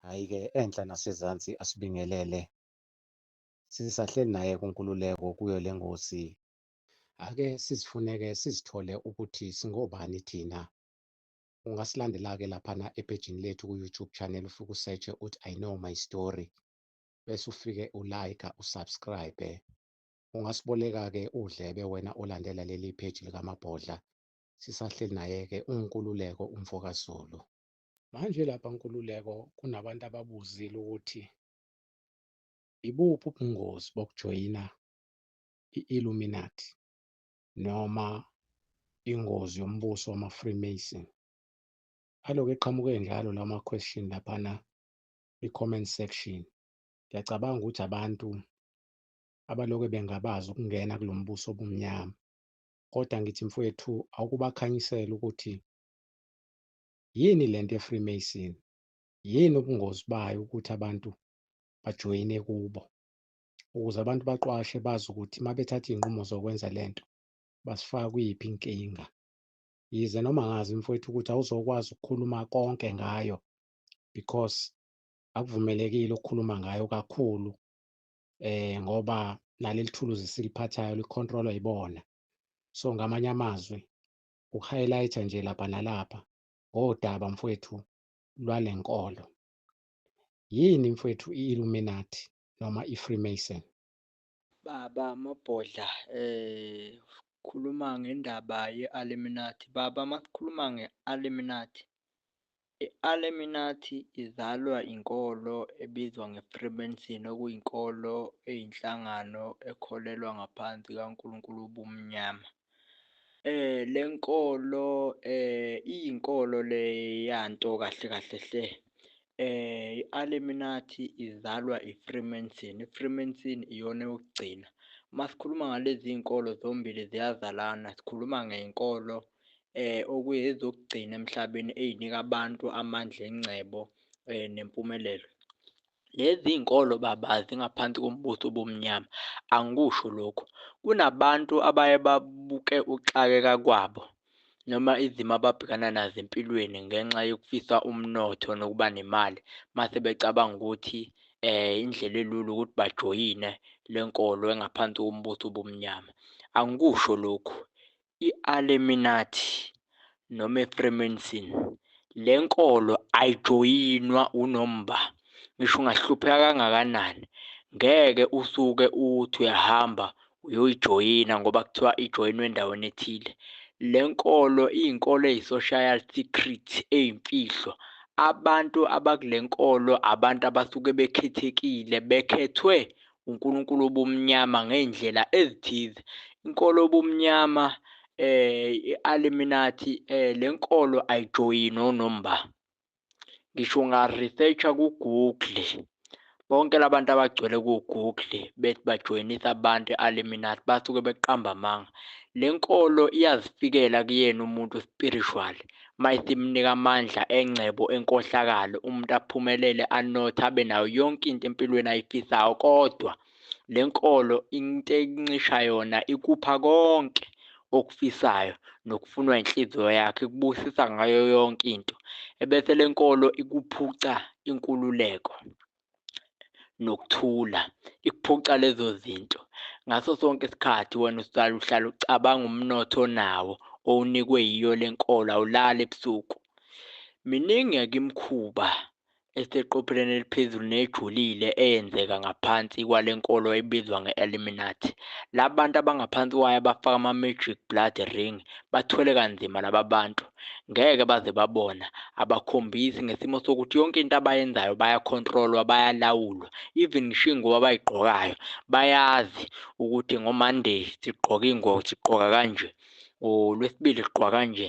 Hhayi-ke enhla nasezansi asibingelele. Sisahleli naye kuNkululeko kuyo le ngosi. Ake sizifuneke sizithole ukuthi singobani thina. Ungasilandela-ke laphana ephejini lethu ku-YouTube channel ufike usetshe uthi I know my story. Bese ufike ulayikha, usubscribe. Ungasiboleka-ke uDlebe wena olandela leli page likaMabhodla, sisahleli naye-ke uNkululeko umfo kaZulu. Manje lapha Nkululeko kunabantu ababuzile ukuthi ibuphi ubungozi bokujoyina i-Illuminati noma ingozi yombuso wama-Freemason. Aloke eqhamuke njalo lawo ma-question laphana kwi-comment section. Ngiyacabanga ukuthi abantu abaloke bengabaza ukungena kulo mbuso obumnyama kodwa ngithi mfowethu awukubakhanyisela ukuthi yini le nto ye-freemason yini ubungozi bayo ukuthi abantu bajoyine kubo ukuze abantu baqwashe bazi ukuthi uma bethatha iy'nqumo zokwenza le nto basifaka kuyiphi inkinga yize noma ngazi mfowethu ukuthi awuzokwazi ukukhuluma konke ngayo because akuvumelekile ukukhuluma ngayo kakhulu eh ngoba naleli thuluzi siliphathayo licontrolwa ibona so ngamanye amazwi uhighlighter nje lapha nalapha ngodaba mfwethu lwalenkolo yini mfwethu i-illuminati noma i-freemason baba mabhodla eh khuluma ngendaba ye-illuminati baba makukhuluma nge-illuminati I-Aleminathi izalwa inkolo ebizwa ngeFreemason okuyinkolo eyinhlangano ekholelwa ngaphansi kaNkulunkulu wobumnyama. Le nkolo iyinkolo le yanto kahle kahle hle. I-Aleminathi izalwa iFreemason, iFreemason iyona eyokugcina. Uma sikhuluma ngalezi zinkolo zombili ziyazalana, sikhuluma ngenkolo eh okuyezokugcina emhlabeni eyinika abantu amandla engcebo eh nempumelelo lezi inkolo baba zingaphansi kombuso obumnyama angikusho lokho kunabantu abaye babuke uxakeka kwabo noma izimo ababhekana nazo empilweni ngenxa yokufisa umnotho nokuba nemali mase becabanga ukuthi eh indlela elula ukuthi bajoyine lenkolo engaphansi kombuso obumnyama angikusho lokhu i-Aleminathi noma iFreemason. Le nkolo ayijoyinwa unomba. Ngisho ungahlupheka kangakanani, ngeke usuke uthi uyahamba uyoyijoyina ngoba kuthiwa ijoyinwe endaweni ethile. Le nkolo iyinkolo eyi-social secret, eyimfihlo. Abantu abakule nkolo abantu abasuke bekhethekile, bekhethwe uNkulunkulu obumnyama ngey'ndlela ezithize. Inkolo obumnyama eh i-Illuminati eh lenkolo ayijoyini onomba ngisho unga-researcha ku-google bonke labantu abagcwele ku-google bethi bajoyinisa abantu i-Illuminati basuke beqamba amanga le nkolo iyazifikela kuyena umuntu spiritual Might imnika amandla engcebo enkohlakalo umuntu aphumelele anothe abe nayo yonke into empilweni ayifisayo kodwa le nkolo into encisha yona ikupha konke okufisayo nokufunwa inhliziyo yakhe kubusisa ngayo yonke into ebese le nkolo ikuphuca inkululeko nokuthula ikuphuca lezo zinto ngaso sonke isikhathi wena usala uhlala ucabanga umnotho onawo owunikwe yiyo le nkolo awulali ebusuku miningi yakimkhuba eseqopheleni eliphezulu nejulile eyenzeka ngaphansi kwale nkolo ebizwa nge-eliminati la bantu abangaphansi kwayo abafaka ama-magic blood ring bathwele kanzima laba bantu ngeke baze babona abakhombisi ngesimo sokuthi yonke into abayenzayo bayakhontrolwa bayalawulwa even ngisho iy'ngubo abayigqokayo bayazi ukuthi ngomonday sigqoka iy'ngubo sigqoka kanje ngolwesibili sigqoka kanje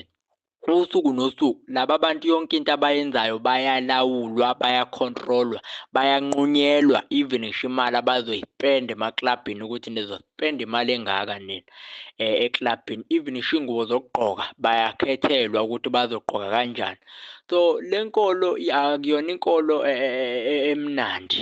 usuku nosuku laba bantu yonke into abayenzayo bayalawulwa bayakhontrolwa bayanqunyelwa even ngisho imali abazoyispenda emaklabhini ukuthi nizospenda spend imali engaka nina eh, eclubini even isho ingubo zokugqoka bayakhethelwa ukuthi bazogqoka kanjani so lenkolo akuyona inkolo eh, eh, emnandi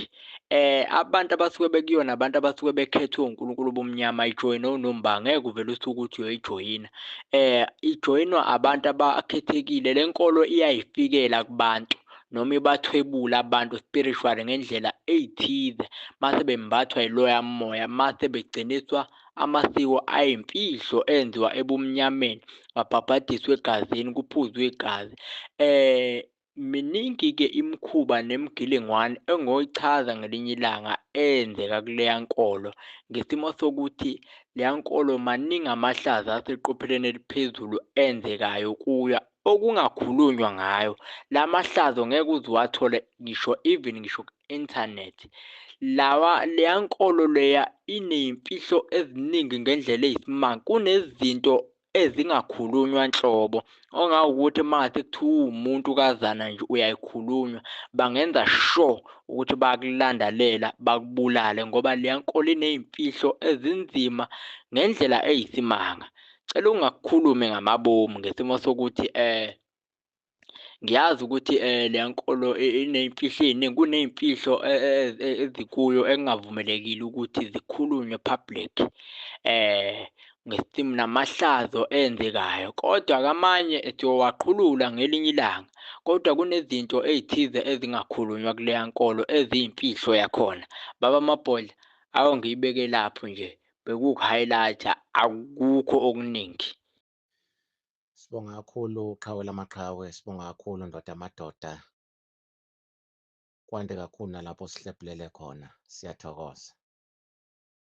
eh abantu abasuke bekuyona abantu abasuke bekhethwe uNkulunkulu bomnyama ijoyina unomba ngeke uvele usuke ukuthi uyoyijoyina eh ijoyinwa abantu abakhethekile lenkolo iyayifikela kubantu noma ibathwebula abantu spiritually ngendlela eyithize mase bembathwa yiloya moya mase begciniswa amasiko ayimfihlo enziwa ebumnyameni babhabhadiswe egazini kuphuzwe igazi eh miningi-ke imikhuba nemigilingwane engoyichaza ngelinye ilanga eyenzeka kuleya nkolo ngesimo sokuthi leya nkolo maningi amahlaza aseqopheleni eliphezulu enzekayo kuyo okungakhulunywa ngayo lamahlazo ngeke uze uwathole ngisho even ngisho ku-internet lawa leya nkolo leya ineyimfihlo eziningi ngendlela eyisimanga kunezinto ezingakhulunywa nhlobo ongawukuthi mase kuthiwa uwumuntu kazana nje uyayikhulunywa bangenza sure ukuthi bayakulandalela bakubulale ngoba leya nkolo ineyimfihlo ezinzima ngendlela eyisimanga cela ungakhulumi ngamabomu ngesimo sokuthi eh ngiyazi ukuthi eh le nkolo ineyimfihlo eziningi kuneyimfihlo eh, eh, eh, ezikuyo engavumelekile ukuthi zikhulunywe public eh ngesimo namahlazo enzekayo kodwa kamanye siyowaqhulula ngelinye ilanga kodwa kunezinto ezithize ezingakhulunywa kuleya nkolo eziyimfihlo yakhona baba mabhodla awu ngiyibeke lapho nje bekuwuku-highlight-a akukho okuningi. Sibonga kakhulu qhawe lamaqhawe, sibonga kakhulu ndoda yamadoda. Kwande kakhulu nalapho sihlebhulele khona. Siyathokoza.